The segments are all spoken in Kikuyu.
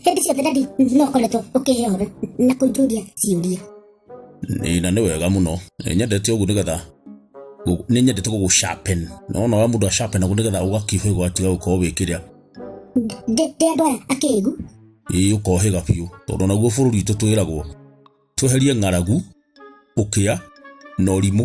Kĩndĩcio thadadi no koretwo ũkĩhehora na kũnjũria ciũria. Nĩ- na nĩ wega mũno nĩ nyendete ũguo nĩgetha gũ- nĩ nyendete gũgũ sharpen na wona wa mũndũ a sharpen ũguo nĩgetha ũgakĩhĩga ũgatiga gũkorwo wĩ kĩrĩa Ndĩ ndĩ andũ aya akĩĩgu. ĩĩ ũkohĩga biũ tondũ naguo bũrũri witũ twĩragwo tweherie ng'aragu ũkĩa na ũrimũ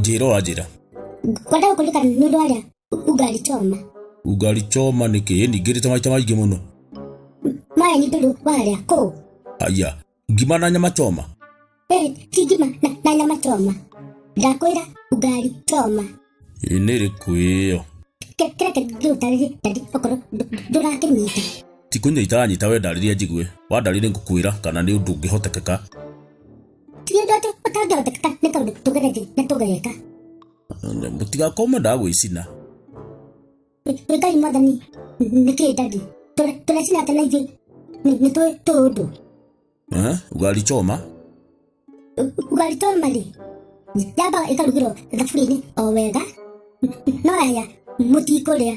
njĩra wanjĩra Kwenda gũkũrĩka nĩ ũndũ warĩa ugali choma. ugali choma nĩ kĩ ĩni ngĩrĩte maita maingĩ mũno Maya nĩ tondũ warĩa kũũ. aya ngima na nyama choma Eh, ti ngima na, na nyama choma. Ndakwĩra ugali choma. ĩ nĩ ĩrĩkũ ĩyo Kĩ- Kĩrĩa kĩngĩ ũtarĩrie ndari okorwo ndũ- ndũrakĩnyita. tikũnyita nyita we ndarĩria njigue wandarĩria ngũkwĩra kana nĩ ũndũ ũngĩhotekeka tigendate ũtangĩhota kata nĩ kaũndũ tũgerethi na tũgereka mũtigakoma ndagwĩcina ngai mwathani nĩkĩ ndadi tũrecina atĩ na ithuĩ nĩ tũĩ tũĩ ũndũ Eh, ugali choma ugali choma rĩ yambaga ĩkarugĩrwo thaburia-inĩ o wega no yaya mũtikũrĩa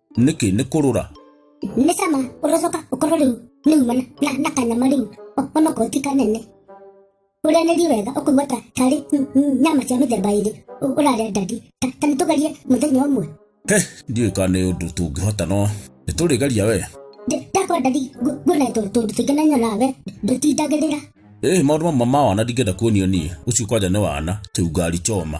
nĩkĩ nĩ kũrũra nĩ cama ũrocoka ũkorwo rĩu nĩ umana na, na kanyama rĩu O- ona okorwo ti kanene ũrĩanĩrie wega ũkũigua ta tarĩ mm, mm, nyama cia mĩthemba ĩrĩ ũ- ũrarĩa ndandi ta ta nĩ tũgerie mũthenya ũmwe he ndiũĩ kana nĩ ũndũ tũngĩhota no nĩ tũrĩgeria we Ndĩ- ndakwa ndari ngu- nguona tũ- tũndũ tũingĩ na nyona we ndũtindagĩrĩra ĩĩ maũndũ mamwe ma wana ndingĩenda kuonio niĩ ũcio kwanja nĩ wana kĩu ngari choma